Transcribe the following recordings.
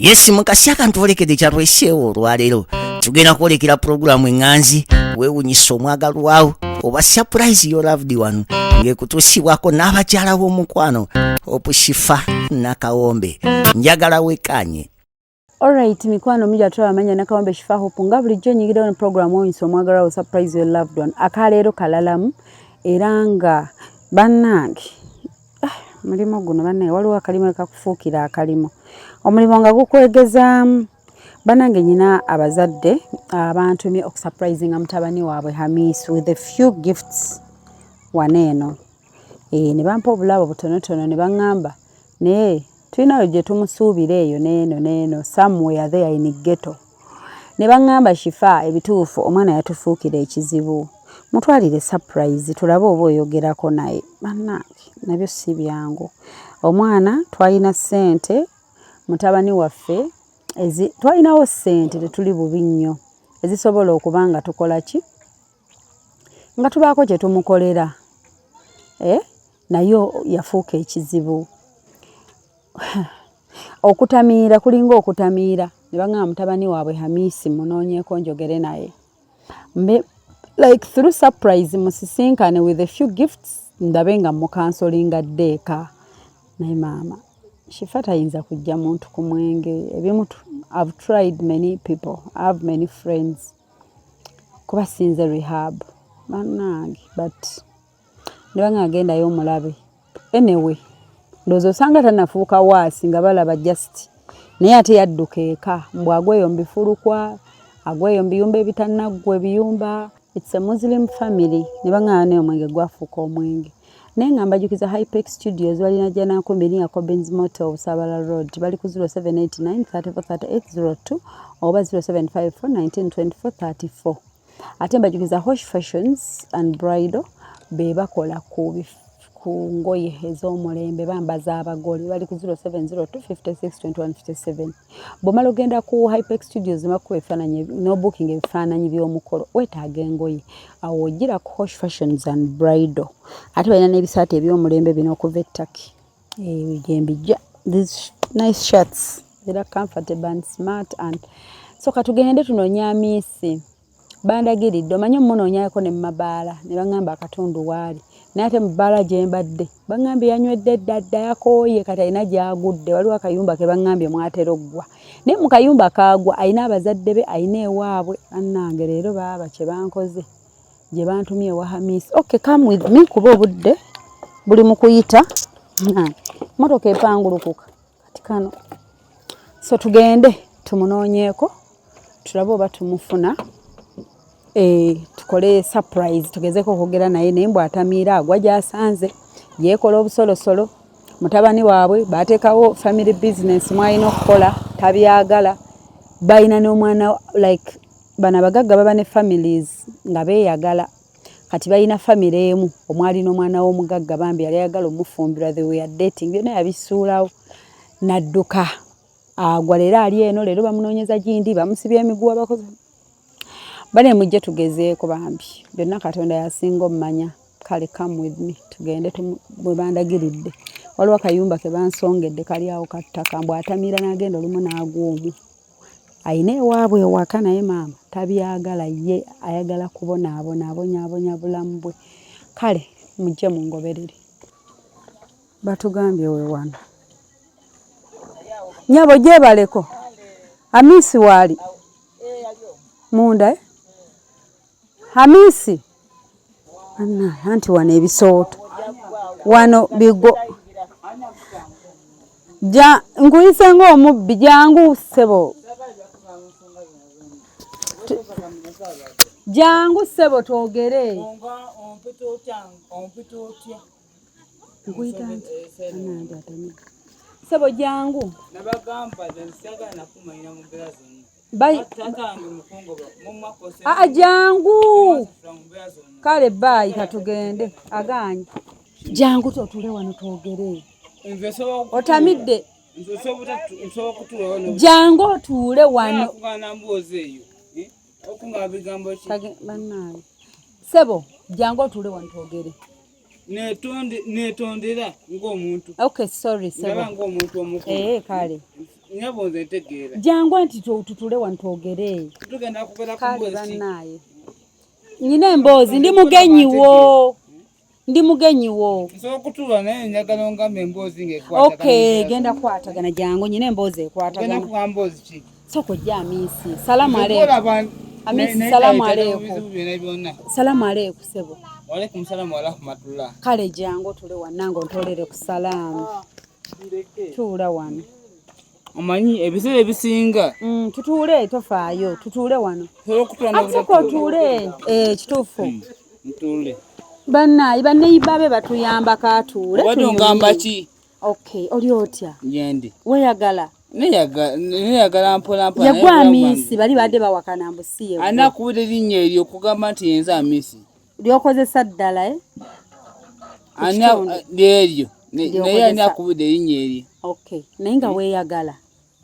yesi mukasi akantu olekede kyalweseewo olwaleero tugenda kwolekera pulogulaamu eŋŋanzi weewunyisa omwagalwawo oba surprise yo loved one ng'ekutuusibwako n'abakyala b'omukwano opushifa nakawombe njagala wekkaanye Alright mikwano mija tulaba manya nakawambe shifa hope nga bulijjo nyigidde on program oyo nsi omwagala wo surprise your loved one akaleero kalalamu era nga bannange ah, mulimu guno bannaye waliwo akalimu ekakufuukira akalimu omulimu nga gukwegezaamu banange nyina abazadde abantumye okusurprisinga mutabani waabwe hamis with a few gifts wana eno e, ne bampa obulabo butonotono ne baŋŋamba naye tulinayo gye tumusuubira eyo neeno neeno somewhere there in ghetto ne baŋŋamba shifa ebituufu omwana yatufuukira ekizibu mutwalire surprise tulabe oba oyogerako naye bannange nabyo si byangu omwana twalina ssente mutabani waffe twalinawo ssente tetuli bubi nnyo ezisobola okuba nga tukola ki nga tubaako kye tumukolera eh? naye yafuuka ekizibu okutamiira kulinga okutamiira ne baŋaa mutabani waabwe hamisi munoonyeeko njogere naye like through surprise musisinkane with a few gifts ndabe nga mukansolinga ddeeka naye maama shifa tayinza kujja muntu ku mwenge ebimu i've tried many people i have many friends kuba sinze rehab banange but ndaba nga agendayo omulabe anyway ndowooza osanga tanafuuka waasi nga balaba just naye ate yadduka eka mbu agweyo mbifulukwa agweyo mbiyumba ebitanaggwa ebiyumba its a muslim family ne baŋaa naye omwenge gwafuuka omwenge naye nga mbajukiza hypex studios balina janakumbi niya cobins moto obusabala road bali ku 0789 343802 oba 0754 192434 ate mbajukiza hosh fashions and bridal be bakola ku ku ngoye ez'omulembe bambaza abagole bali ku 0702562157 bwomala ogenda ku hypex studios makuba ebifaananyi nobooking ebifaananyi by'omukolo wetaaga engoye awo ojira ku hosh fashions and bridal ate balina n'ebisaati eby'omulembe bino okuva ettaki eyo gyembijja these nice shirts era comfortable and smart and so katugende tunonya miisi bandagiridde omanyi omunoonyako ne mumabaala ne baŋŋamba akatundu waali naye ate mubaala gye mbadde baŋŋambye yanywedde ddadda yakooye kati alina gyagudde waliwo akayumba ke baŋŋambye mwatera oggwa naye mu kayumba kaagwa alina abazadde be alina ewaabwe bannange leero baaba kye bankoze gye bantumye ewa hamisi ok come with me kuba obudde buli mu kuyita motoka epangulukuka kati kano so tugende tumunoonyeeko tulabe oba tumufuna eh, tukole surprise tugezeko okwogera naye naye mbw atamiira agwa gyasanze yeekola obusolosolo mutabani waabwe bateekawo family business mwalina okukola tabyagala balina n'omwana like bano abagagga baba ne families nga beeyagala kati balina famire emu omwali n'omwana w'omugagga bambi yali ayagala omufumbirwa the way dating byonna yabisuulawo n'adduka agwa leero ali eno leero bamunoonyeza gindi bamusibya emiguwa bakozi bane mujje tugezeeko bambi byonna katonda yasinga omumanya kale come with me tugende bwe bandagiridde waliwo akayumba ke bansongedde kali awo kattaka mbw atamira n'agenda olumu n'agwa omwo alina ewaabwe ewaka naye maama tabyagala ye ayagala kubonaabona abonyabonya bulamu bwe kale mujje mungoberere batugambye we wano nyabo gyebaleko amiisi waali munda eh? Hamisi anna anti wano ebisooto wano bigo ja nkuyise ng'omubbi jangu ssebo jangu ssebo twogere nkuyita nti ssebo jangu Bai... Ah, jangu kale bayi katugende aganye jangu totule wano twogere otamidde jangu otuule wano sebo jangu otuule wano twogere netonde netondera ng'omuntu okay sorry sorry ng'omuntu omukulu eh kale nyabo nze ntegeera jangu anti tutule wano twogere tugenda kubera ku kale banaye nyina emboozi ndi mugenyi wo ndi mugenyi wo nsokutuula naye njagala ongambe emboozi ng'ekwatagana okay genda kwatagana jangu nyina emboozi ekwatagana genda kuwa mboozi ki Soko jamisi. Salamu alaykum. Amisi salamu alaykum. Salamu alaykum sebo. Wa alaykum salamu wa rahmatullah. Kale jango tule wanango ntolere ku salamu. Ah, Tula wano. Omanyi ebiseera ebisinga. Mm, tutuule tofaayo. Tutuule wano. Akusoko tuule. Eh, kituufu. Mm, ntuule. Bannayi banneyiba be batuyamba katuule. Obadde ongamba ki? Okay, oli otya? Yendi. Weyagala. Neyagala neyagala mpola mpola. Yagwa amisi bali bade bawakana mbusiye. Ana kuwede linye elyo kugamba nti yenza amisi. Lyokozesa ddala eh? Ana lyeryo. Naye ani akuwede linye elyo. Okay. Naye nga weyagala.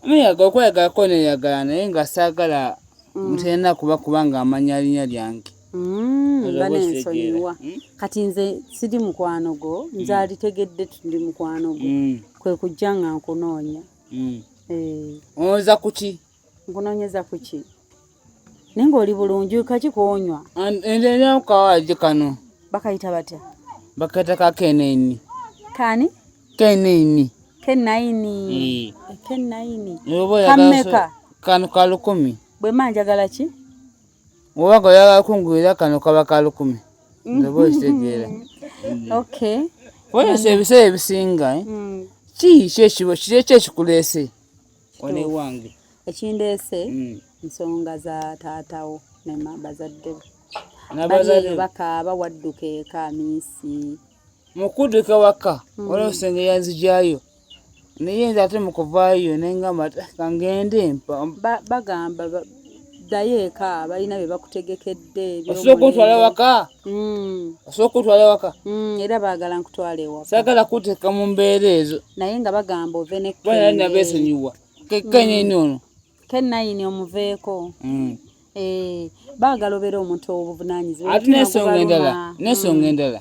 Muyaga okweyagalako neyagala naye nga saagala mm. mutalina kuba kuba nga amanya linya lyange mm, nga nensonyiwa hmm? kati nze siri mukwano gwo hmm. nze alitegedde tuli mukwano gwo hmm. kwe kujja nga nkunoonya eh. onoonyeza kuki nkunoonyeza kuki naye ng'oli bulungi kaki konywa endeera kukawaagi kano bakayita batya bakayita ka keneni kani keneni kenayini kenayini kameka kano ka lukumi bwe mba njagala ki oba nga oyagala kungulira kano kaba ka lukumi ndoba okitegeera okay weyesa ebiseera ebisinga eh? mm. ki ki ekibo kiri ekyo ekikuleese wano ewange ekindeese mm. nsonga za taatawo ne bazadde be bakaaba wadduka eka minsi mu kudduka waka mm. waliwo senge yanzijayo naye nze ate mu kuvaayo nengamba kangende bagamba ddayo eka balina bye bakutegekedde osooka otwala waka hmm. osooka otwala waka hmm, era baagala nkutwala ewaka saagala kuteeka mu mbeera ezo naye nga bagamba ove nekenabeesonyiwa kekenyini hmm. ono kenayini omuveeko eh, baagala obeera omuntu owobuvunanyizibwa ate nesonga endala nesonga endala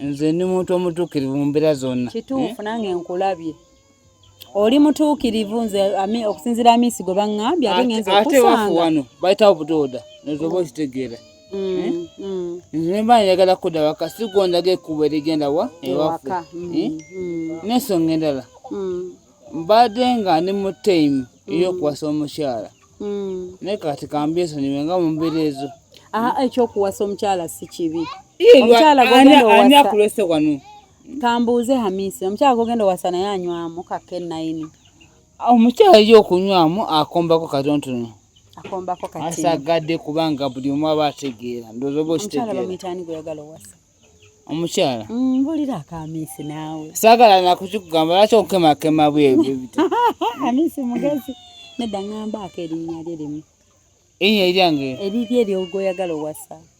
nze ndi muntu omutuukirivu mu mbeera zonna kituufu eh? nange nkulabye oli mutuukirivu nze okusinzira amiisi gwe baŋŋambye ate ngenza okusanga wano bayitawo butooda nozoba okitegeera mm, eh? mm. nze nemba njagala kudda waka si gondaga ekkubo erigenda wa ewaffe mm, eh? n'ensonga endala mbadde nga ndi mu taimu ey'okuwasa omukyala naye kati kambyesonyiwe nga mu mbeera ezo ekyokuwasa omukyala si kibi omukyala gogenda owasa kambuuze hamisi omukyala gogenda owasa naye anywamu kake nayini omukyala yo okunywamu akombako katontono akombako kati asagadde kubanga buli omu aba ategeera ndowooza oba okitegeera omukyala mm, mbulira akamisi naawe saagala nakukikugamba lwaki okukemakema bwebibita amisi mugezi nedda ŋŋambaako erinnya lye limu erinnya eryange eriryo eryogoyagala owasa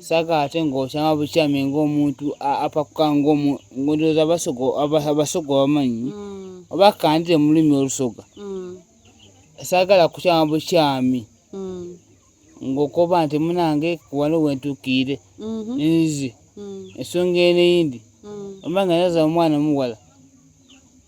saka ate ng'okyama bukyami ng'omuntu apakuka ng'ondooza abasoga abamanyi mm. oba kandire mu lulimi olusoga mm. saagala kukyama bukyami mm. ng'okoba nti munange waliwo wentuukiire mm-hmm. nzi ensonga eno eyindi oba nga naza omwana omuwala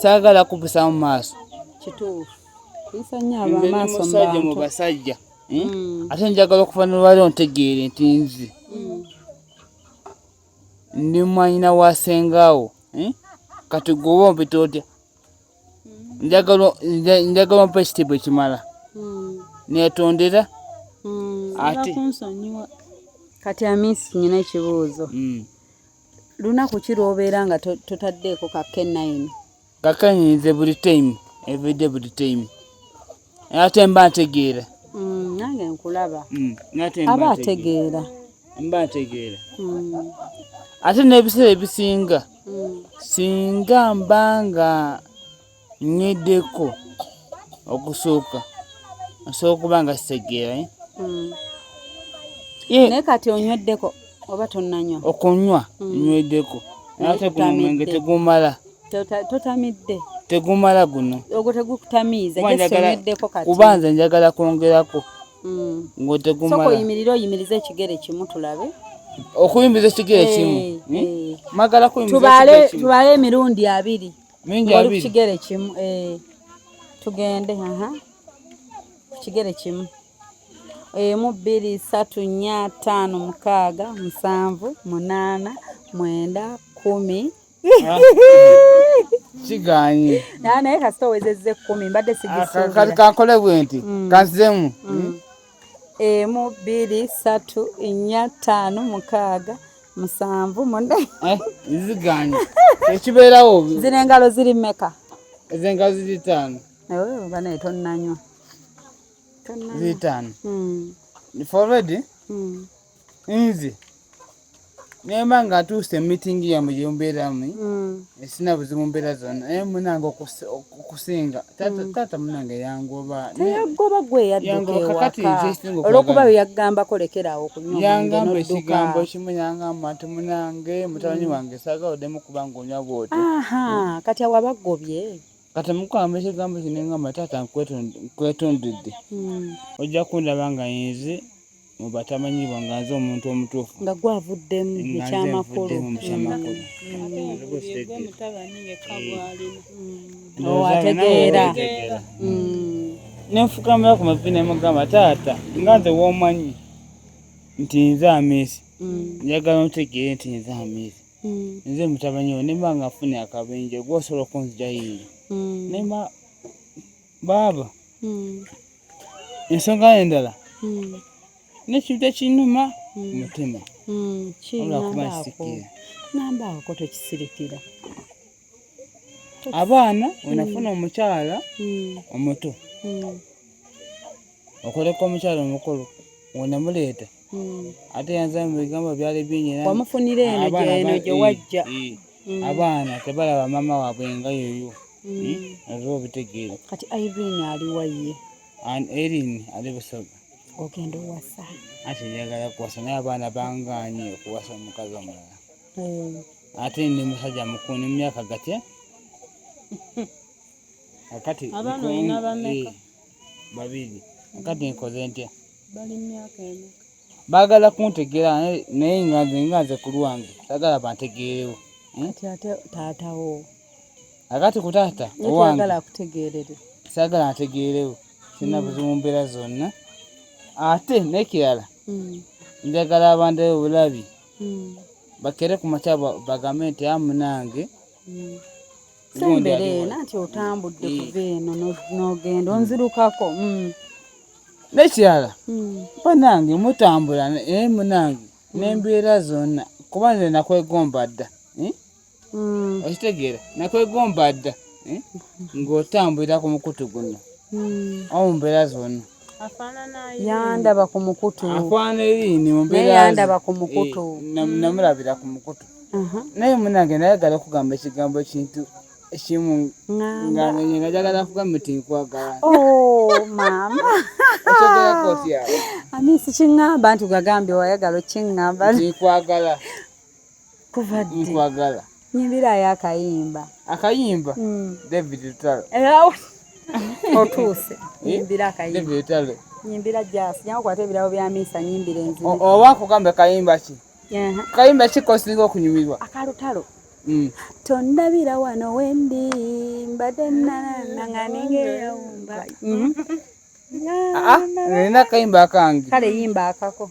saagala kubusa mu maaso kituufu kuyisa nnyo abamaaso musajja mu basajja hmm? Hmm. ate njagala okuva nolwali ontegeere nti nze hmm. ndi mwanyina wa sengaawo kati gwoba ompita otya njagala ompa ekitiibwa ekimala netondera ate kati amisi nyina ekibuuzo lunaku ki lwobeera nga totaddeeko ka kenayini kakenyi nze buli time everyday buli time ate mba ntegeera mm, nange nkulaba mm, aba ategeera mba ntegeera mm. ate n'ebiseera ebisinga singa mba nga Nnyweddeko okusooka nsobola okuba nga sitegeera eh? hmm. eh. naye kati onyweddeko oba tonnanywa okunywa hmm. nnyweddeko ate guno omwenge tegumala totamidde tegumala guno ogwo tegukutamiiza gesonweddeko kati kuba nze njagala kwongerako hmm. ngwo tegumala soko yimirira oyimiriza ekigere kimu tulabe okuyimiriza ekigere kimu eh, magala kuyimiriza ekigere kimu tubale emirundi abiri mingi abiri kigere kimu eh tugende aha kigere kimu emu bbiri satu nnya ttaano mukaaga musanvu munaana mwenda kumi ah. kiganye naye kasita owezezza ekkumi mbadde sigisukati kankole bwe nti mm. kanzemu mm. emu bbiri ssatu nnya ttaano mukaaga musanvu mune eh, ziganye ekibeerawo zino engalo ziri mmeka ezo engalo ziri ttaano oh, banaye tonnanywa ziri ttaano hmm. foredi hmm. nze nemba nga atuuse mu mitingi yamwe gyembeeramu mm. esina buzibu mbeera zonna naye munange okusinga mm. taata munange yangoba yagoba gwe yaddukewaka olwokuba yagambako lekerawo okunyayangamba ekigambo kimu yangamba nti munange mutabani mm. wange saga odemu kubanga onywa bwoti kati awabagobye kati mukamba ekigambo kino ngamba taata nkwetondedde hmm. ojja kundaba nga yenze mu batamanyibwa nga nze omuntu omutuufu nga gwavuddemu ekyamakulu hmm. hmm. oh, ategeera nenfukamira ku mavi nemugamba taata nga nze womanyi nti nze amiisi njagala ntegeere nti nze amiisi mm. nze mutabani wo nemba nga nfuna akabenje gwosobola okunzijayingi mm. nemba baaba mm. ensonga endala mm. nekintu ekinuma mm. mutima mm. olwakuba nsikira nambaako tekisirikira abaana wenafuna mm. omukyala mm. omuto mm. okoleka omukyala omukulu wenamuleeta ate yanza mubigambo byali binyiwamufunira eno gyeno gyewajja abaana tebalaba mama wabwe nga yoyo oba obitegeera kati irene aliwaye erin ali busoga ogenda owasa ate njagala kuwasa naye abaana banganye okuwasa omukazi omulala mm. ate ndi musajja mukulu ne mumyaka gatya akati abaana olina bameka eh, babiri akati nkoze ntya bali myaka emeka baagala kuntegeera naye nga nze nga nze ku lwange sagala bantegeerewo hmm? ate taatawo akati ku taata owange sagala ntegeerewo sirina hmm. buzibu mbeera zonna ate nekirala hmm. njagala abandayo obulabi hmm. bakere ku makya bagambe nti amunange hmm. sembere nanti otambudde eh. kuva eno nogenda onzirukako hmm. nekirala banange mutambula naye munange nembeera zonna kuba nze nakwegomba dda eh? mm. okitegeera nakwegomba dda eh? ng'otambulira ku mukutu guno mm. omu mbeera zonna yandaba ku mukutu afaana eriini mumbeerayandaba ku mukutu eh, namulabira ku mukutu uh-huh. naye munange nayagala okugamba ekigambo ekintu ekimu nga njagala kugamba nti nkwagala oh, maama ani sikiŋŋamba nti gagambye wayagala okiŋŋamba nti nkwagala kuva ddi nkwagala nyimbirayo akayimba akayimba mm. david lutalo otuuse nyimbira akayimba david lutalo nyimbira jasi nyakukwata ebirabo bya misa nyimbira enzibu oba kugambe kayimba ki kayimba ki kosinga okunyumirwa akalutalo mm. tondabira wano wendi mbadde nanananganengeyawumba mm-hmm. ah, ah, nina kayimba akange kale yimba akako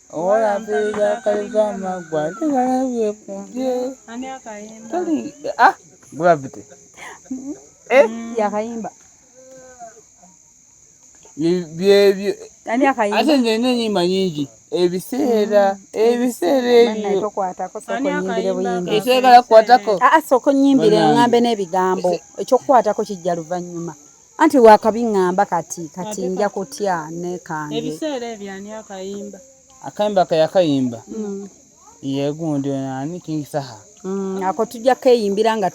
Owola mpeza akayuza amagwa ate ngalabye kumbye. Ani akayimba? Tali ah gravity. Mm-hmm. Eh mm. yakayimba. Byebyo. Ani akayimba? Ate nze nina enyimba nyingi. Ebiseera mm. ebiseera ebyo tokwatako sokonyimbire buyimbi ekyagala kukwatako ah, ah sokonyimbire ngambe n'ebigambo ekyokukwatako kijja luvannyuma anti wakabi ngamba kati kati nja kutya nekange ebiseera ebyo ani akayimba akayimba kayakayimba mm. yegundi ono ani king saha mm, ako tujja keyimbira nga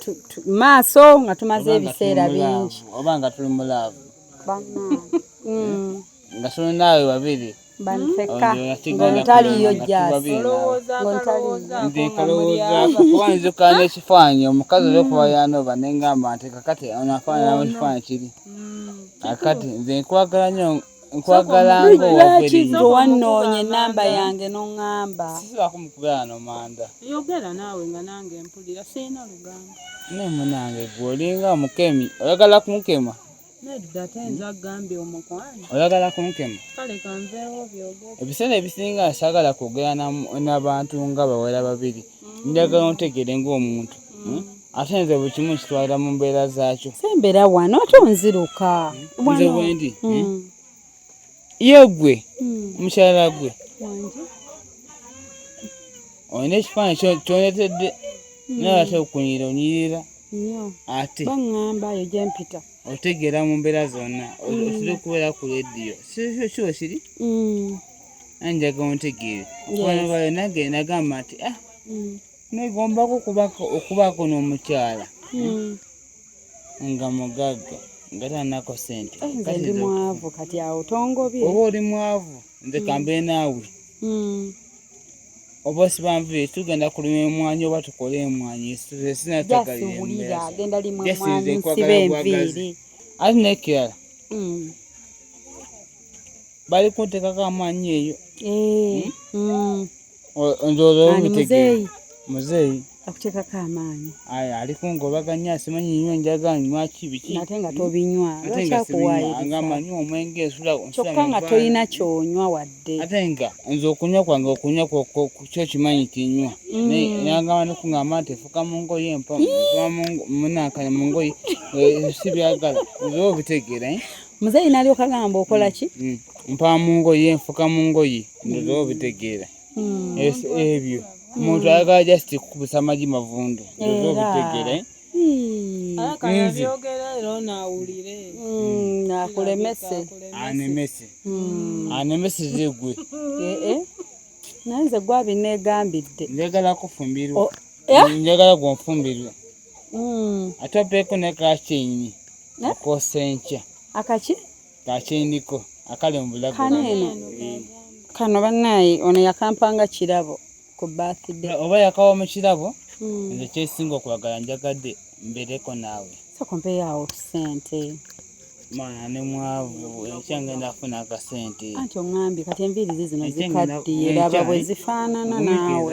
maaso nga tumaze ebiseera bingi oba nga tuli mu laavu mm. nga tuli naawe babiri bansekka ng'ontaliyo jjaasi nze nkalowoozaako kuba nzuka n'ekifaananyi omukazi olwokuba yanooba ne ngamba nti kakati ono afaanana mu kifaananyi kiri akati nze nkwagala nnyo nkwagala ng'owavelinga wannoonya ennamba yange n'oŋŋamba sibakumukubera no manda yogera naawe nga nange mpulira sirina lugambo naye munange gwe olinga omukemi oyagala kumukema Nedda tayinza agambye omukwano. Oyagala kunkema? Kale kanveewo byogere. Ebiseera ebisinga saagala kwogera n'abantu nga bawera babiri. Mm. Njagala ontegeere ng'omuntu. Mm. Hmm? Ate nze buli kimu nkitwalira mu mbeera zaakyo. Sembera wano ate onziruka. Hmm? Nze wendi. Hmm? Eh? ye gwe hmm. mukyala gwe olina ekifaananyi kyoletedde hmm. naye ate okunyira onyirira ate baŋŋamba eyo gye mpita otegeera mu mbeera zonna hmm. otera okubeera ku rediyo sikiba kiri anjaga ontegeere okwana bayo nange nagamba nti ah negombako okubaako n'omukyala nga mugagga nga tanako sente eh, nze ndi mwavu kati awo tongobye oba oli mwavu nze mm. kambe naawe mm. oba sibanvuye tugenda kulima emwanyi oba tukole emwanyi sinatagaliwulira genda limu emwanyi nsibe enviiri ate nekirala mm. bali kuntekako amaanyi eyo eh, Onjooza muzeeyi muzeeyi akuteekako amaanyi aya ali kungobaganya asimanyi nywa enjaga nywa ki biki ate nga tobinywa lwaki akuwaayiriza omwenge esula kyokka nga tolina kyonywa wadde ate nga nze okunywa kwange okunywa kyo kimanyi kinywa mm. nayangamba nekungamba nti efuka mu ngoye mpa munankanya mu ngoye eh, si byagala nze obitegeera eh? muzeeyi nalyoka gamba okola ki mm, mm. mpaa mu ngoye nfuka mu ngoye ndoza obitegeera mm. ebyo omuntu ayagala just kukubisa amagi mavundu ndoza obitegeera eh? akulemese anemese anemese zegwe eh, eh. naye nze gwabinegambidde njagala kufumbirwa oh, njagala gwonfumbirwa mm. ate opeeko ne kakyeyini eh? akoosa enkya akaki kakyeyiniko akali mu bulago kano eno kano bannaayi ono yakampanga kirabo ku birthday oba yakawa mu kirabo hmm. nze kyesinga okwagala njagadde mbereko naawe sokompeyawo sente mwana ne mwavu enkya ngenda funa akasente anti oŋambye kati enviiri zi zino zikaddiye laba bwe zifaanana naawe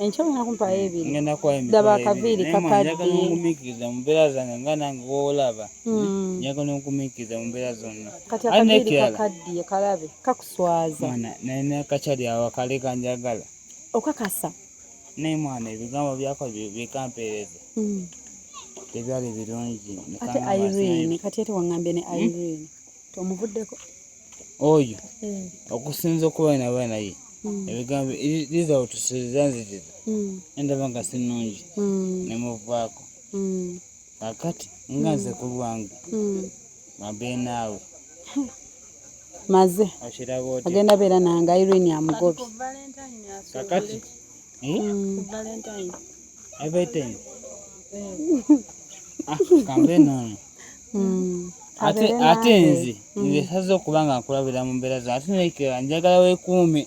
enkya olina kumpaayo mm, ebiri ngenda kuwa emitwalo daba akaviiri kakadde njagala ongumiikiriza mu mbeera zange nga nange woolaba mm. njagala ongumiikiriza mu mbeera zonna kati akaviiri kakaddiye kalabe kakuswaza mwana naye nakakyali awo akale kanjagala okakasa naye mwana ebigambo byako bikampeereza mm. tebyali birungi ate irene kati ate waŋŋambye ne hmm? irene tomuvuddeko oyo hmm. okusinza okuba naba naye hmm. ebigambo liza otusuuza nzitiza endaba nga sinungi nemuvaako kakati nga nze ku lwange mabe naawe maze agenda beera nange irene amugobi kakati everything ah, kambe nono hmm. ate ate nze hmm. nze saze okuba nga nkulabira mu mbeera zino ate nekera njagala wekuume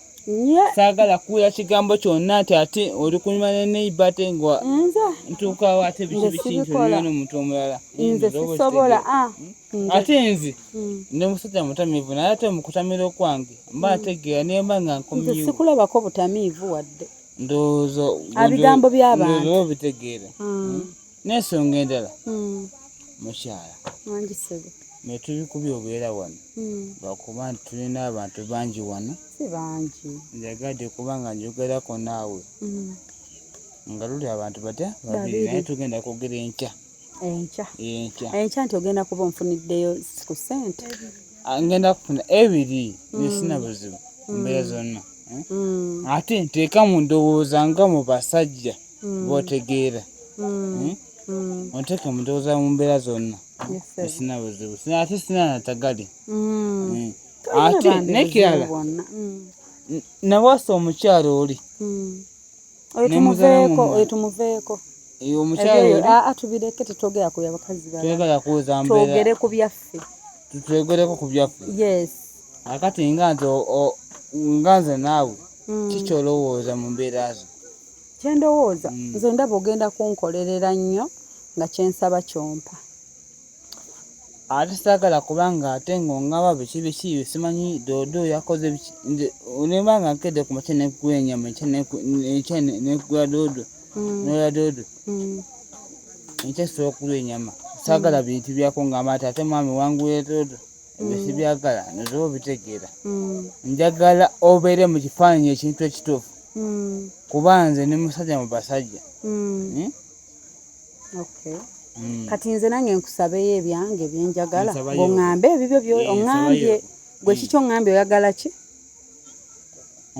saagala kuwulira kigambo kyonna nti ate oli kunyuma ne neiba ate nga ntuukawo ate biki biki nti olina n'omuntu omulala nze sisobola ah. hmm? ate nze hmm. ne musajja mutamiivu naye ate mukutamira okwange mba hmm. ntegeera naye mba nga nkomnze sikulabako butamiivu wadde ndowooza abigambo by'abantu obitegeera hmm. n'ensonga endala hmm. mukyala naye tubikubye obeera wano hmm. lwakuba nti tulina abantu bangi wano njagadde kubanga njogerako naawe hmm. nga luli abantu batya babiri naye tugenda kwogera enkya enkya enkya nti ogenda kuba onfuniddeyo ku sente ah, ngenda kufuna ebiri nesina buzibu mbeera zonna eh? ate nteeka mu ndowooza nga mu basajja mm. botegeera mm. hmm? onteke mutowoza mu mbeera zonna esina buzibu ate sina natagali ate nekirala nawasa omukyalo oli oyo tumuveeko oyo tumuveeko eyo omukyala atubireke tetwogera ku byabakazi twagala kuuza mbeera twogere ku byaffe twegereko ku byaffe yes akati nga nze nga nze naawe mm. kikyolowooza mu mbeera zo kyendowooza mm. nze ndaba ogenda kunkolerera nnyo nga kyensaba kyompa ate saagala kubanga ate ng'ongaba biki biki simanyi doodo yakoze biki nze onemba nga nkedde ku makya nekugula enyama ekya nekugula doodo mm. nola doodo mm. enkya sobola okugula enyama saagala bintu byako ngamba ati ate mwami wangula doodo ebyo mm. sibyagala nozoba obitegeera mm. njagala obeere mu kifaananyi ekintu ekituufu mm. kuba nze ni musajja mu basajja hmm? kati nze nange nkusabeyo ebyange byenjagala ngaoŋambe ebibyo byo eh, oŋambye gwe kiki oŋambye oyagala ki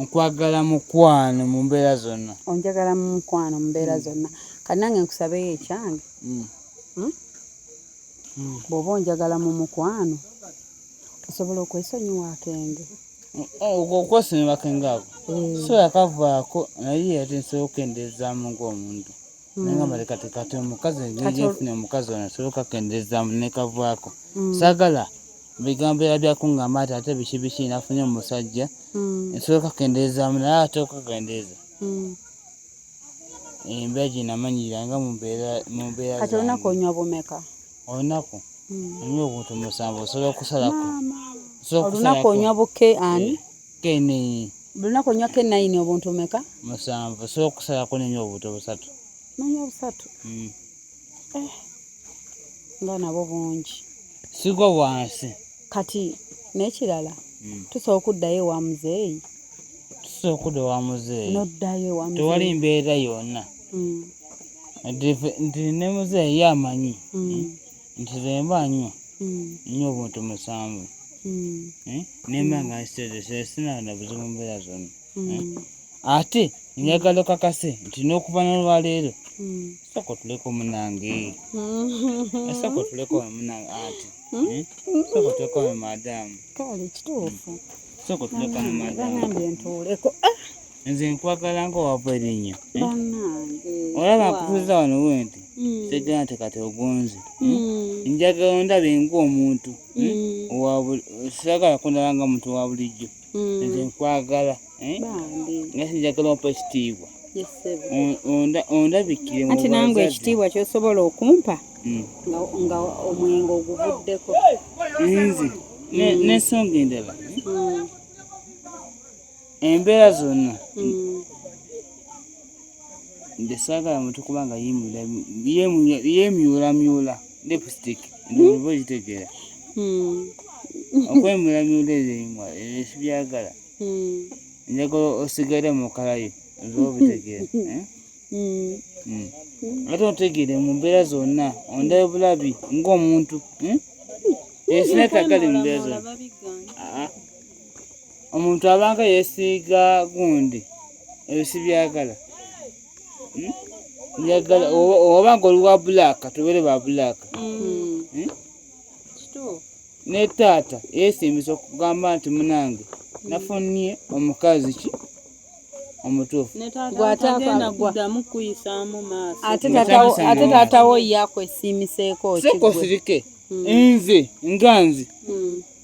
nkwagala mukwano mu mbeera zonna onjagala mu mukwano mu mbeera zonna kati nange nkusabeyo ekyange hmm? hmm. bw'oba onjagala mu mukwano osobola okwesonyiwa akenge okwesonyiwa akenge ako eh. so yakavaako naye ate nsobola okukendeezaamu ng'omuntu hmm. naye nga maleka tekati omukazi ngenfuna omukazi ono nsobola okakendeezaamu nekavaako hmm. sagala bigambo era byakungamba ati ate biki biki nafunye omusajja nsobola okakendeezaamu naye ate okakendeeza embeera gye namanyirira nga mu mbeera mu mbeera kati olunaku onywa bumeka olunaku hmm. onywa obuntu musanvu osobola okusalako olunaku onywa buke ani eh, kenini olunaku onywa kenayini obuntu bumeka musanvu osobola okusalako nenywa obuntu busatu nonywa busatu hmm. eh, nga nabo bungi sigo wansi kati n'ekirala hmm. tusobola okuddayo ewa muzeeyi tusobola okudda ewa muzeeyi noddayo ewa muzeeyi tewali mbeera yonna hmm. nti ne muzeeyi ye amanyi hmm. nti zemba nnyo nnyo obuntu musanvu nemba nga nsitezesesina na buzibu mbeera zonna mm. eh? ate njagala okakase nti n'okuva nolwaleero mm. sooka otuleko munange mm. sooka otuleko munange ati eh? sooka otuleko mu madamu kale kituufu sooka otuleko mu madamu ntuuleko ah! nze nkwagala nga owava erinnyo eh? olaba nkutuuza wano wenti segera nti kati ogonze njagala ondabe ng'omuntu sagala kundaba nga muntu wa bulijjo mm. nze nkwagala eh? nga sinjagala ompa ekitiibwa ondabikire anti nange ekitiibwa kyosobola okumpa mm. nga omwenga oguvuddeko nze mm. nensonga endala eh? embeera zonna nze saagala muntu kuba nga yeemyulamyula lipstick ndoba okitegeera hmm. okwemyulamyula ezo enyuma ebyo sibyagala hmm. njagala osigale mukalayo ndoba obitegeera eh? hmm. ate otegeere mu mbeera zonna ondayo bulabi ng'omuntu esinakagali mu mbeera zonna omuntu abanga yesiiga gundi ebyo sibyagala hmm? njagala oba nga oli wa bulaaka tubeere ba bulaaka hmm. hmm? ne taata yesiimisa okugamba nti munange nafunnie omukazi ki omutuufu ate taatawo yakwesiimiseeko kigwe nze nga nze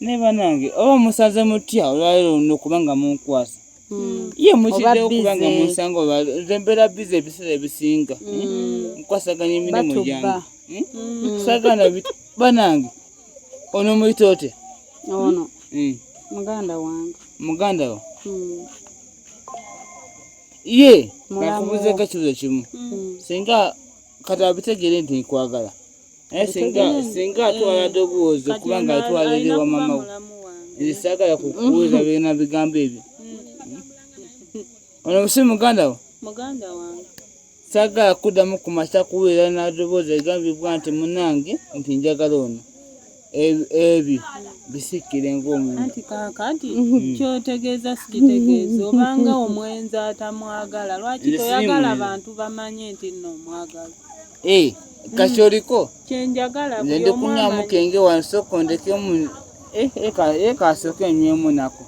naye banange oba musaze mutya olwaleero luno kubanga munkwasa hmm. ye mukiddewo kubanga munsanga nze mbeera biza ebiseera ebisinga hmm. nkwasaganya emirimu gyange hmm? sagana banange ono muyita otya ono muganda wange muganda wo ye kakubuzeeko ekibuzo kimu singa kati abitegeere nti nkwagala naye singa atwala eh, doboozi okuba nga atwala eri wa mama we nze saagala kukuwulira birina bigambo ebyo hmm. ono musi muganda wo muganda wange saagala kuddamu ku masa kuwulira n'adoboozi egambibwa nti munange nti njagala ono ebi bisikire ng'omuntu anti kaakati mm-hmm. kyotegeeza sikitegeeza obanga omwenzi atamwagala lwaki toyagala bantu bamanye nti nno omwagala eh, kati mm. oliko kyenjagala nze ndikunyamu kenge wansoko ndekemu eh, eh, kasooka enywemu nako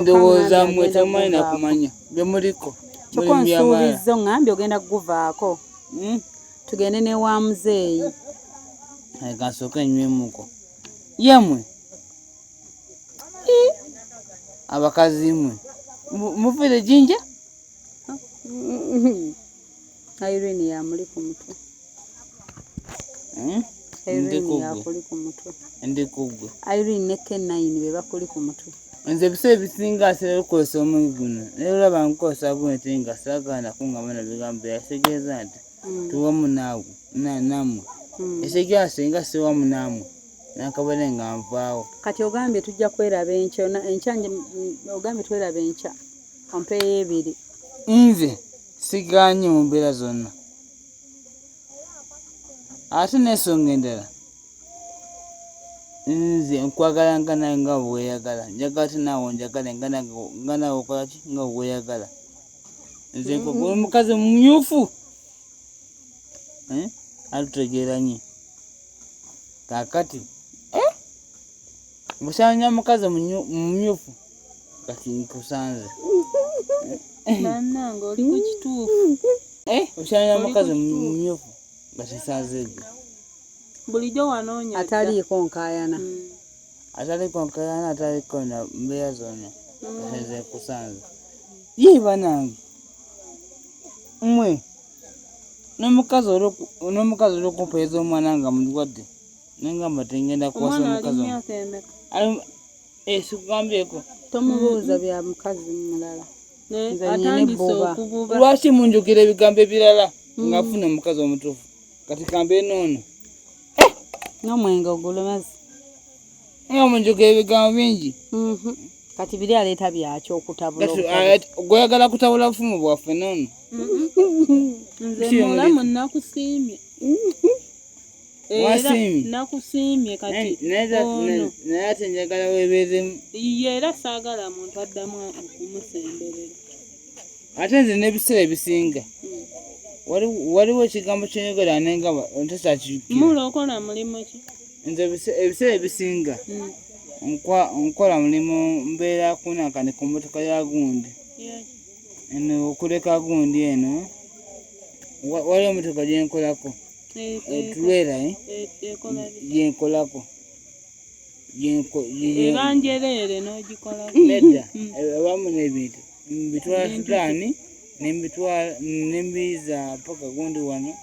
ndowooza mwe tamanyi nakumanya byemuliko kyoka onsuubizza oŋambye ogenda kuguvaako hmm? tugende ne wa muzeeyi gasooka enywemuko yemwe abakazi mwe muvire jinja Irene yamuli ku mutwe hmm? Irene yakuli ku mutwe ndi kugwe Irene ne K9 be bakuli ku mutwe nze ebiseera ebisinga asera lukozesa omuyi guno naye olaba nkukozesa guno te nga saagala nakuŋŋama na bigambo bye yategeeza nti mm. tuwamu naawe namwe mm. esekyo asenga siwamu naamwe nakabone nga nvaawo kati ogambye tujja kweraba enkya enkya ogambye tweraba enkya ompeeyo ebiri nze siganye mu mbeera zonna ate n'ensonga endala nze nkwagala nga nawe nga bweyagala njagala te naawe onjagale nga nawe okolaki nga bweyagala nze nkugula omukazi mumyufu eh? atutegeranye kakati eh? busanya omukazi mumyufu kati nkusanze banange oli ku kituufu eh? busanya omukazi mumyufu nga kisanze ebyo bulijjo wanoonya ataliiko nkayana mm. ataliko nkayaana ataliko na mbeera zonna mm. ezekusanza ye banange mwe n'omukazi n'omukazi olwokumpeereza omwana nga mulwadde nengamba tengenda kuwasa omukazi esikugambyeeko eh, tomubuuza bya mukazi mulala lwaki munjukira ebigambo ebirala ngafuna omukazi omutuufu kati kambeera noono eh, n'omwenge ogulumazi naye omunjuga ebigambo bingi mhm. kati biri aleeta byaki okutabulagweyagala ah, kutabula bufumu bwaffe nono mhm. nze mulamu nakusiimye nakusiimye katinaye ate njagala webeeremu ye era saagala muntu addamu okumusemberera ate nze n'ebiseera ebisinga waliwo ekigambo kyenyogera nenga ntakyakijukiramulo okola mulimu ki nze ebiseera ebisinga hmm. nkola mulimu mbeera kunakani ku motoka ya gundi eno okuleka gundi eno waliwo motoka gyenkolako etulwera eh, eh, eh, gyenkolako ebanjereere n'ogikolako nedda hmm. abamu n'ebintu mbitwala Sudani nembitwala nembiza paka gundi wano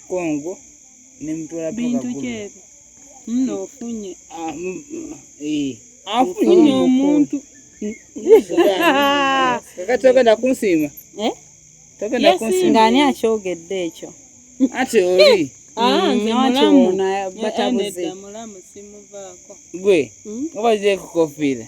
Kongo nembitwala paka bintu kyebi muno ofunye ah, eh. afunye omuntu kakati ogenda kunsiima eh? togenda kunsiima nga ani akyogedde ekyo ati oli Ah, mm, mulamu eh, eh, gwe obazeekukofira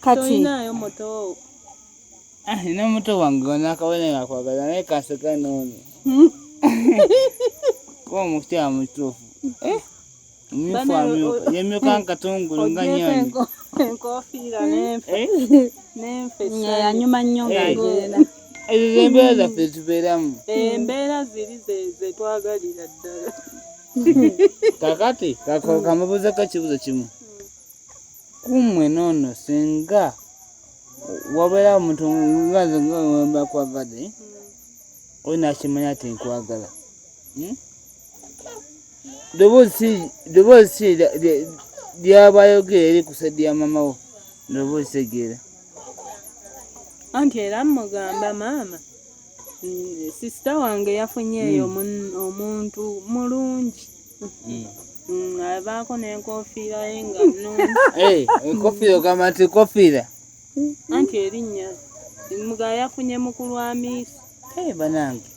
kati inayo moto ah ina moto wange ona kawene nakwagala naye kaseka nono hmm? kuba omukyala mutuufu eh? omumyufu amyuka yemyuka nkatungulu nga nyonyi enkofiira nenfe eh? nenfe yanyuma nnyo nga eh. agenda ezo zembeera zaffe zibeeramu embeera ziri zetwagalira ddala kakati kamubuuzeko ekibuzo kimu kummwe noono singa wabeera omuntu ngaze ngawemba kwagade oyo nakimanya ti nkwagala hmm? doboozi si lyabayogera eri kusadi ya mamawo doboozi tegeera anti era mugamba maama sisita wange yafunyeeyo hmm. omuntu mulungi mm. mm, abaako n'enkofiira ye nga eh, enkofiira ogamba nti enkofiira anti erinnya muga yafunye mukulu amiisi eh, banange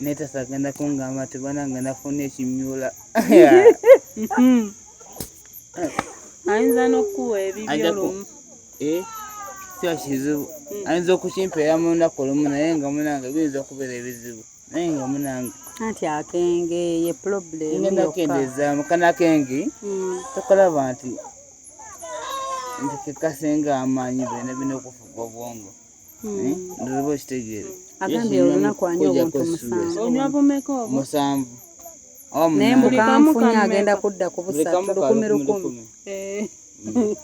naye tasagenda kungamba nti banange nafuna ekimyula mm-hmm. ayinza n'okukuwa ebibyo lumu eh? kiba kizibu ayinza okukimpeera mu lunaku olumu naye nga munange biyinza okubeera ebizibu naye nga munange anti akenge ye problem ngenda kendeza mukana kenge mm. tokalaba nti nti kekasenga amaanyi bena bina okufuga obwongo hmm. eh, ndiriba okitegeere agambye olunaku anya obuntu musanvu naye mbukanfunye agenda kudda ku busatu lukumi lukumi eh.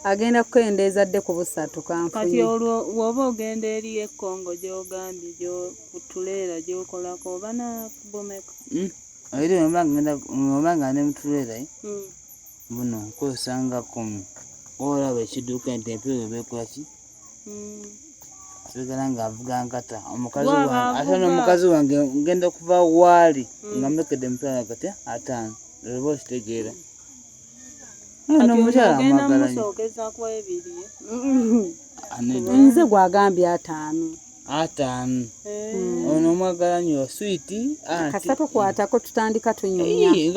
agenda kukendeeza dde ku busatu kanfunye kati olwo woba ogenda eri e Congo gyogambye gyokutuleera gyokolako oba nakubomeka hmm? eri oba nga ne mutuleera eh? hmm. buno nkozesa nga kumi olaba ekiduuka nti empewo ebekolaki hmm. sigala nga avuga nkata omukazi wange ate n'omukazi wange ngenda okuva waali nga mulekedde emitwalo agati ataano olwoba okitegeera nze gwagambye ataano ataano hmm. ono omwagala nyo switi kasita tukwatako tutandika tunyumyanti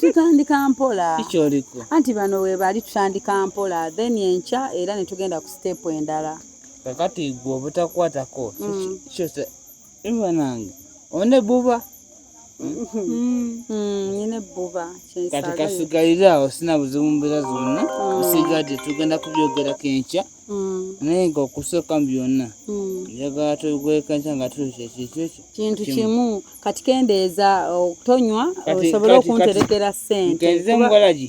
tutandika mpola anti bano webali tutandika mpola then enkya era netugenda ku sitepu endala kakati gwe obutakwatako hmm. banange one buba nyine buba kati kasigalire awo sina buzibu mbeera zonna usigadde tugenda kubyogerako enkya naye nga okusooka mu byonna njagala tugweka enkya nga tuli kyekikyekyo kintu kimu kati kendeeza okutonywa osobole okunterekera sente nkenze mubalagi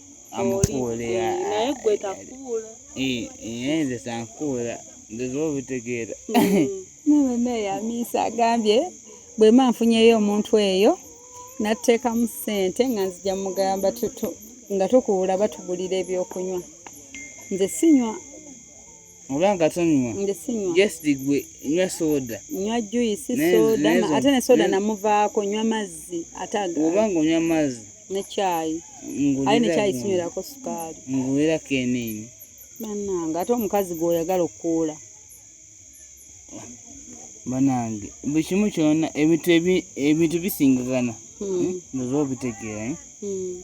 amukuule naye gwe takuula nze sankuula nziza obitegeera nabana yamiisa agambye bwema nfunyeyo omuntu eyo natteekamu ssente nga nzija mugamba nga tukuula batugulira ebyokunywa nze sinywa oba nga tonywa jesdi gwe nywa soda nywa juisi soda ate ne soda namuvaako nywa mazzi ate oba nga onywa mazzi ne kyayi aye ne kyayi sinywerako sukaali ngulira kenini banange ate omukazi gweoyagala okukuula banange buli kimu kyona ebintu bisingagana hmm. eh, ndoza obitegeera eh? hmm.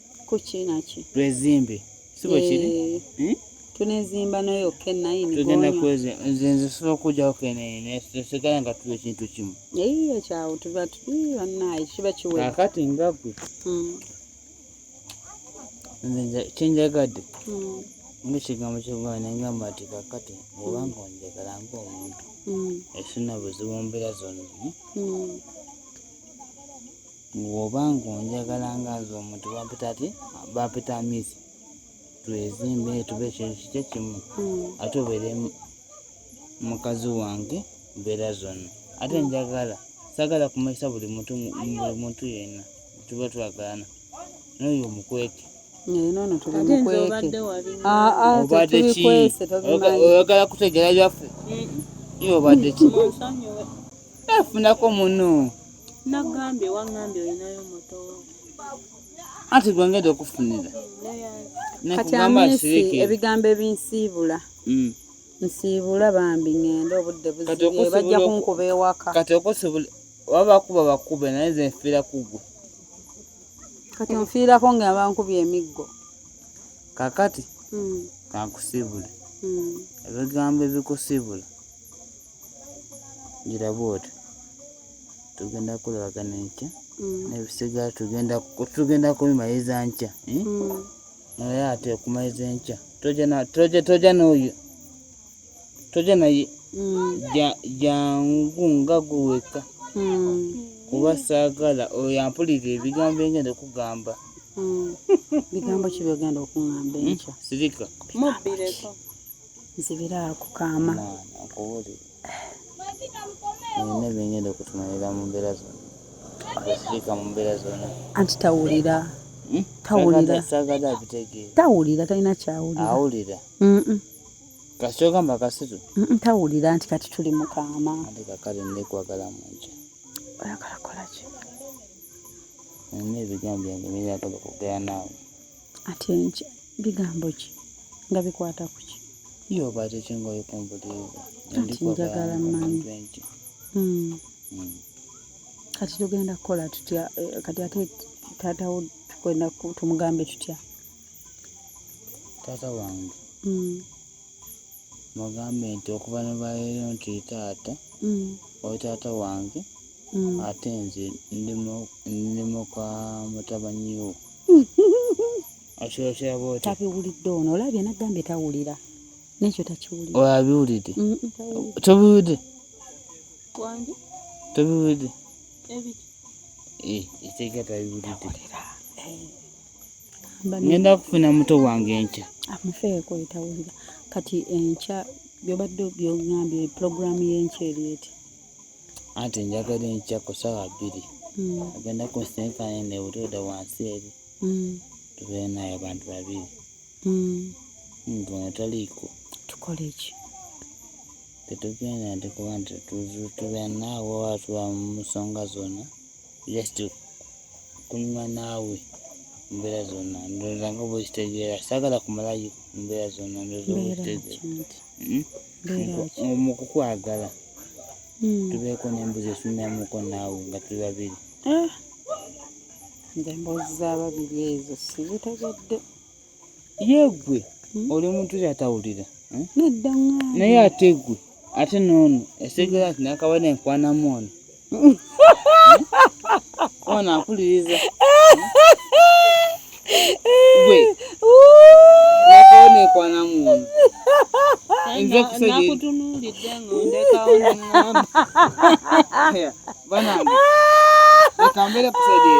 kukinaki twezimbe sibo kiri eh, hmm? tunezimba nayo kenayini tugenda kweze nze nze sobola okujjawo kenayini sigala nga tuli ekintu kimu eyiyo kyawo tuba banaye kiba kiwe kakati nga gwe hmm. nze kyenjagadde hmm. ngaekigambo kyokuba nengamba nti kakati obanga onjagala ngaomuntu esina buzibu mbeera zonna Bw'oba ng'onjagala nga nze omuntu bampita ki? Bampita Miss. Twezimbe tube ekintu kikye kimu hmm. ate obeere mukazi wange mbeera zonna. Ate hmm. njagala sagala kumanyisa buli muntu buli muntu yenna tuba twagalana n'oyo omukweke. Obadde ki? Oyagala kutegeera byaffe? Obadde ki? Nafunako muno. Nagambye wangambye olinayo moto. Ati gwe ngeda okufunira. Kati amisi ebigambo ebinsiibula. Mm. Nsiibula bambi ngende obudde buzibye bajja kunkuba ewaka. Kati okusibula waba kuba bakube naye nze nfiira kugwe. Kati nfiirako nga abankubye emiggo. Kakati. Mm. Kankusibule. Mm. Ebigambo ebikusiibula. gira bwoti tugenda kulabagana enkya mm. nebisigala tugenda kubimaliza nkya eh? mm. naye ate okumaliza enkya toja noyo toja naye mm. jangu nga gweweka kuba saagala oyo ampulira ebigambo engenda okugamba bigambo ki byogenda okungamba enkya sirika mubbireko nzibira ku kaama nina byengenda okutumalira mu mbeera zona asirika mu mbeera zona anti tawulira hmm? tawulira sagada abitegeera tawulira talina kyawulira awulira kasita ogamba kasitu tawulira nti kati tuli mu kaama ate kakale ndekwagala mu nja oyagala kukolaki nina ebigambo byange byenyagala okugera naawe ate nki bigambo ki nga bikwata ku ki yo obadde ki nga oyikumbuliivu kati njagala manyi hmm. hmm. kati tugenda kukola tutya eh, kati ate taatawo tugenda tumugambe tutya taata wange hmm. mugambe nti okuva ne baleero nti taata mm. oli taata wange mm. ate nze ndi muka mutabanyiwo akyokera bwoti tabiwulidde ono olabye nagambye tawulira nekyo takiwulira olabiwulidde tobiwulidde tobiwulidde etegatabiwulidde ngenda kufuna muto wange enkya amufeeko etawulira kati enkya byobadde byogambye pulogulaamu y'enkya eri eti anti njagala enkya ku ssaawa bbiri hmm. agenda ku nsinkane nebutoda wansi eri hmm. tubeere naye abantu babiri hmm. ngono taliiko tukola eki tetugenda nti kuba nti tubeere naawe watuba mu nsonga zonna just kunyuma naawe mbeera zonna ndowooza nga bwekitegeera saagala kumalayo mbeera zonna ndowooza bwekitegeera hmm? mu kukwagala hmm. tubeeko n'embuzi esunamuko naawe nga tuli babiri ah! nze emboozi za babiri ezo sizitegedde ye gwe hmm? oli muntu eri atawulira hmm? nedda ŋŋamba naye ate gwe ate n'ono esegera nti nakaba nenkwanamu ono hmm? ono akuliriza gwe nakaba nenkwanamu ono nze kusenakutunuulidde ng'ondekawo neŋŋamba banange reka mbere kusaidie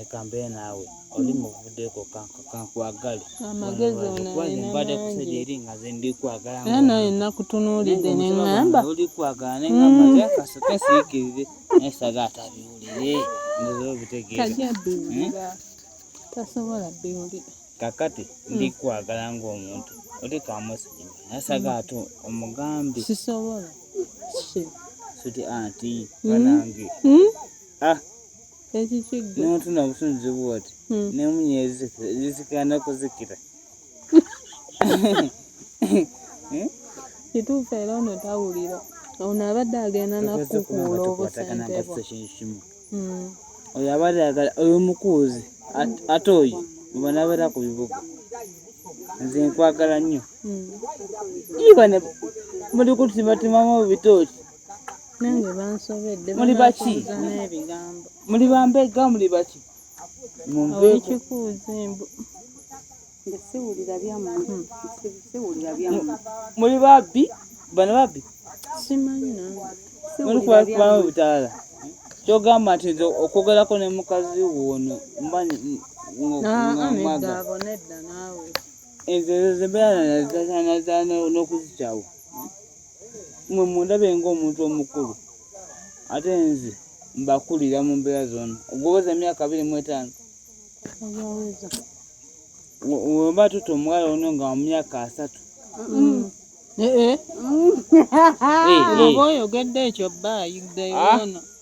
ekambeere naawe oli muvuddeko kankwagale mbadde kusajja eri nga ze ndikwagala era naye nakutunuulidde ne ŋŋamba oli kwagala ne ŋŋamba mm. naye kasooka siikirire naye saga atabiwulire ndoza obitegeera hmm? tasobola biwulira kakati hmm. ndikwagala ng'omuntu oli kamusajja naye saga hmm. ate omugambi sisobola suti anti banange ah ekikigga n'omuntu nabutunzi bwoti hmm. nemunyeezi zisikana okuzikira eh? kituufu era ono tawulira ono abadde agenda nakukuula obusentebwa hmm. oyo abadde agala oyo mukuuzi ate oyo bwebanabeera ku bibuga nze nkwagala nnyo hmm. iba ne muli kutibatimamu bitooki muli baki muli bambega muli baki muli babbi bano babbi muli kubakubamu obutaala kyogamba nti nze okwogerako ne mukazi woono mbanyi mwaga ezo zembeera nazazanazana n'okuzikyawo mwe mundabe ng'omuntu omukulu ate nze mbakulira mu mbeera zona ogwoweza emyaka abiri mu etaano wemba tuta omuwala ono nga mu myaka asatu mm. eh, eh. eh, oba oyogedde ekyo bba ayigdayoono ah.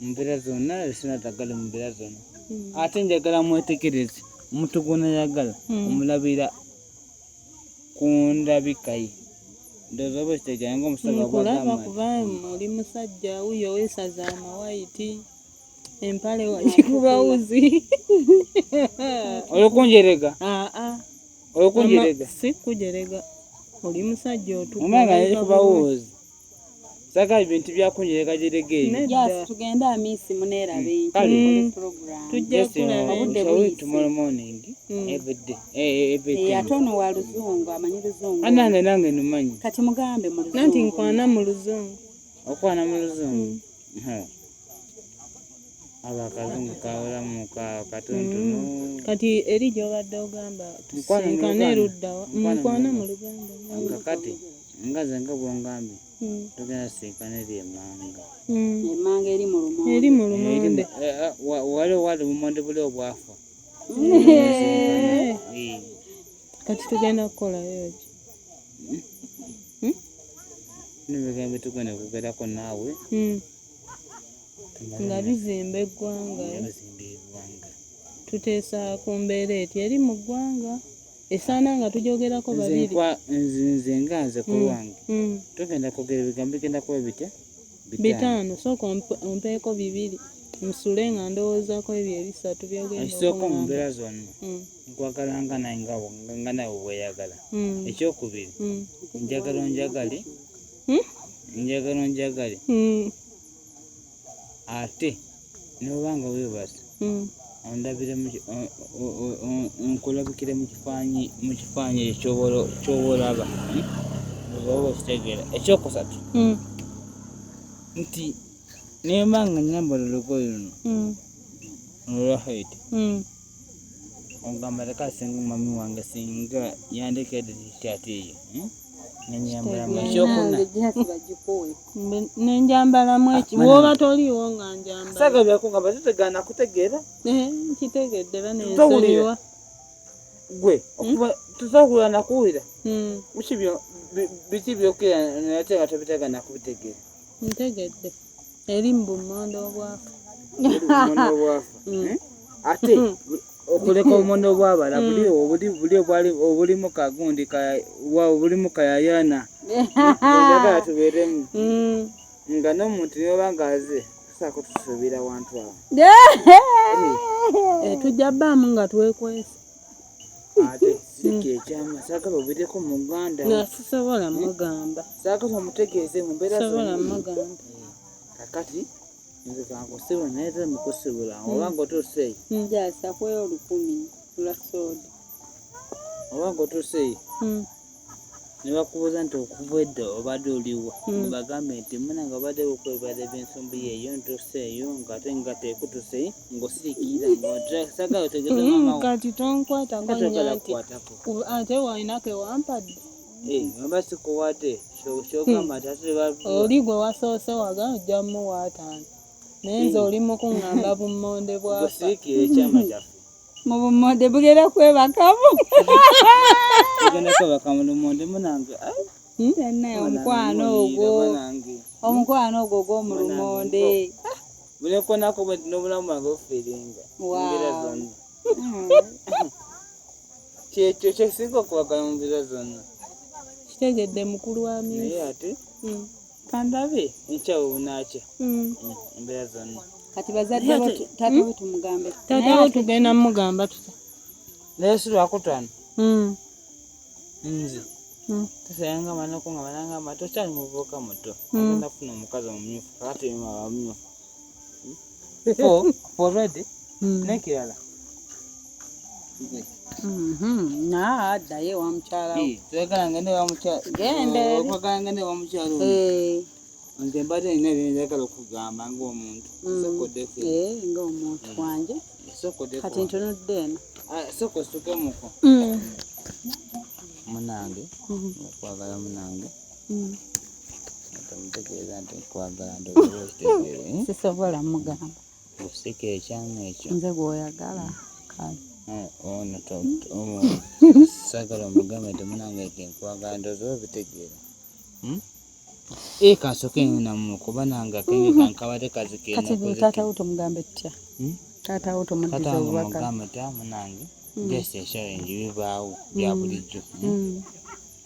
mumbeera zonna esina tagala mumbeera zonna hmm. ate njagala mwetegereze omuntu gwonayagala hmm. omulabira ku ndabikaye ndowooza oba ekitegera nga omusajja kulaba kuba oli musajja wuyo wesaza amawayiti empale wakikuba wuzi olikunjerega ah, ah. olikunjerega si kujerega oli musajja otukuba wuzi Saga ibintu byakunyereka jerege. Yes, tugenda amisi munera mm. bintu. Kali mm. program. Tujja kula obudde bwisi. Tomorrow morning. Mm. Every day. Eh, eh, eh every day. Yatono wa luzungu, amanyi luzungu. Anange nange numanyi. Kati mugambe mu luzungu. Nanti nkwana mu luzungu. Okwana mu luzungu. Mm. Ha. abakazungu kawulamu katontonu mm. kati eri gyobadde ogamba tusinkane eruddawa mukwana mu luganda kakati nga nze nga bwongambye hmm. tugenda sinkana eri emanga hmm. emanga eri mulumonde eri mulumonde eh, eh, wali wali lumonde buli obwafa hmm. kati tugenda kukolayo ki nibigambo tugenda kugerako naawe nga bizimba eggwanga tuteesa ku mbeera eti eri mu ggwanga esaana nga tujogerako babiri nze nga nze ku mm, lwange mm. tugenda kwogera ebigambo bigenda kuba bitya bitaano sooka ompeeko bibiri nsule nga ndowoozako ebyo ebisatu byogeekisooka mu mbeera zonna mm. nkwagala nga naye nga nawe weyagala ekyokubiri njagala onjagale hmm? njagala onjagale hmm. ate n'oba nga weebase hmm. ondabire nkulabikire mu kifaanyi mu kifaanyi ekyo kyoba olaba oba okitegeera ekyokusatu hmm. nti nemba nga nyambala olugoye luno hmm. olwa haiti ogamba leka asinga omwami wange singa yandekedde ate eyo hmm? nenjambalamu ah, ekiwoba toliiwo nga njambalaagabakugamba tetegaana kutegeera eh, nkitegedde banensonyiwa gwe hmm? tusobola nakuwulira hmm. biki byokera naye ate nga tobitegeera ntegedde eri mu bummonde obwafa mm. eh? ate mm. okuleka obummonde obwabala mm. obulimu kagundi obulimu kayayana agala tubeeremu nga n'omuntu nioba nga aze tusaako tusuubira wantu awo eh, tujja bbaamu nga twekwesa ate siki ekyama saagala obeereko mu uganda sisobola mugamba saagala omutegeeze mu mbeera sobola mugamba kakati nze kankusiba naye ze mukusibula hmm. oba ngotuuseeyi njasa kweyo olukumi lwa sooda oba ngotuuseeyi hmm. ne bakubuuza nti okuva edda obadde oliwa hmm. nebagambe nti muna nga obadde bukwebale byensumbu yeeyo ntuuse eyo ngaate nga tekutuse ngaosirikirira ngosagala otegeekati tonkwatako nyanti ate walinako ewampadde eh, oba sikuwate kyogamba hmm. tate oli gwe wasoose waga ojja muwaataano naye nze hmm. oli mukuŋŋamba bummonde bwafa mubumode bugera kwebakamu bugenda kwebakamu lumode munange naye omukwano ogwo omukwano ogwo gwomulumonde bunekonako bwenti nobulamu bwange ofiringa mbeera zonna kyekyo kyesinga okwagala mu mbeera zonna kitegedde mukulu wa naye ate hmm. kandabe enkya bwe bunaakya hmm. embeera zonna kati bazadde bo taata bo tumugambe taata bo tugenda mugamba tuta naye si lwakutaano hmm. nze hmm. tusayanga amanako nga bananga amato okyali muvubuka muto agenda kufuna omukazi omumyufu kakati bamyufu nekirala addayo ewa mukyala twagala ngende ewa mukyala twagala ngende ewa mukyala nze mbadde nina byenjagala okugamba ngaomuntu ngaomuntu wange kati ntunudde eno soko sukemuko munange okwagala munange sisobola mugamba osika ekyama ekyo nze gwoyagala kale eh, ono sagala omugamba nti munange nti nkwagala ndoza obitegeera hmm? ee eh, kansoke namu kuba nange akenge kankabate kazikati taata wo tomugambe tutya hmm? taata wo tomuddiza obubaka ta munange hmm. just eshawe ngi bibaawo bya bulijjo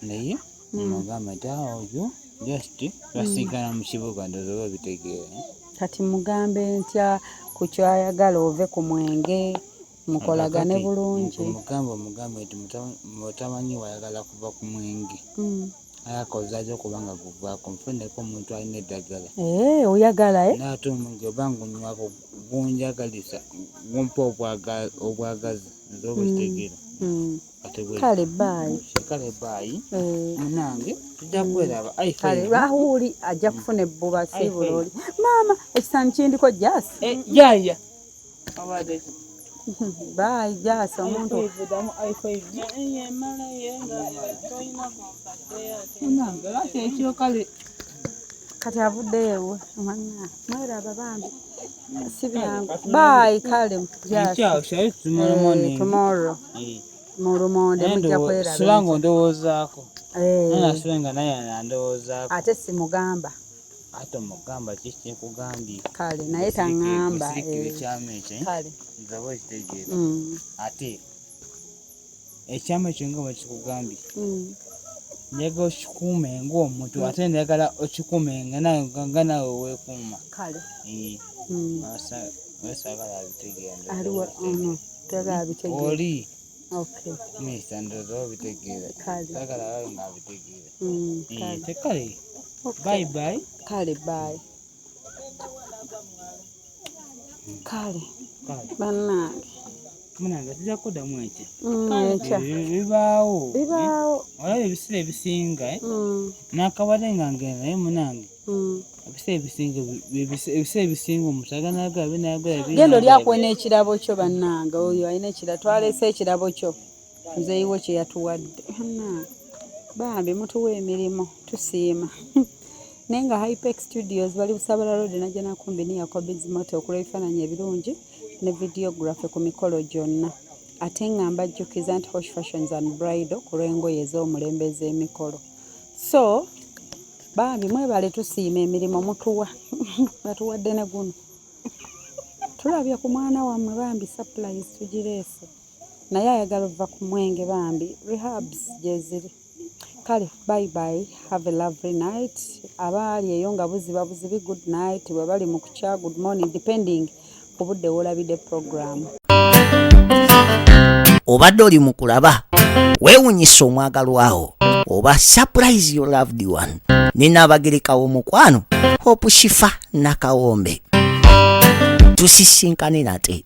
naye mugamba nti awo ah, oyo just basigala mu kibuga ndoza oba bitegeera eh? kati mugambe ntya ku kyayagala ove ku mwenge mukolagane bulungi mugamba omugambe nti mutamanyi wayagala kuva ku mwenge hmm. ayakozaza okuba nga gugwako nfuneko omuntu alina eddagala eh, oyagala eh? naate omungi oba ngunywako gunjagalisa gumpa obwagazi nze obukitegeera hmm. hmm. kale baayi kale baayi eh. munange tujja kweraba kale rahuli ajja kufuna ebbuba si buloli maama ekisanyi kindiko jas eh, yaya baayi jas omuntu ekyo kale kati avuddeyo ewe mwana mweraba bambi si byangu bayi kale tomorrow mu lumonde mujja kweraba sula nga ondowoozaako nasula nga naye andowoozaako ate simugamba ate omugamba kiki nkugambye kale naye tangamba ekyama ekyo nzaba okitegeera ate ekyama ekyo nga bakikugambye mm. njagala okikuume ngaomuntu mm. ate njagala okikuume nga nawe wekuuma wesagala abitegeeraoli misa ndoza obitegeera sagala abayo nga abitegeera tekale bayi bayi kale bayi kale bannange munange tujja kuddamu enkya mm, enkya eh, eh, bibaawo bibaawo eh, olaba ebiseera ebisinga mm. nakabadde nga ngenda naye munange mm. ebiseera ebisinga ebiseera ebisinga omuntu aganaga abe nayagala genda oli akwena ekirabo kyo bannange oyo alina ekirabo twaleese ekirabo kyo muzeeyiwo kye yatuwadde bambi mutuwa emirimu tusiima naye nga hypex studios bali busabala road najja nakumbini yakobizimoto okula ebifaananyi ebirungi ne videography ku mikolo gyonna ate nga mbajjukiza nti hosh fashions and bridal ku lw'engoye ez'omulembe ez'emikolo so bambi mwebale tusiima emirimu mutuwa batuwadde ne guno tulabye ku mwana wammwe bambi supplies tugireese naye ayagala ova ku mwenge bambi rehabs gyeziri kale bye bye have a lovely night abaali eyo nga buziba buzibi good night bwe bali mu kukya good morning depending ku budde wolabide program obadde oli mu kulaba weewunyisa omwagalwawo oba surprise your loved one nina abagereka w'omukwano hope shifa nakawombe tusisinkane nate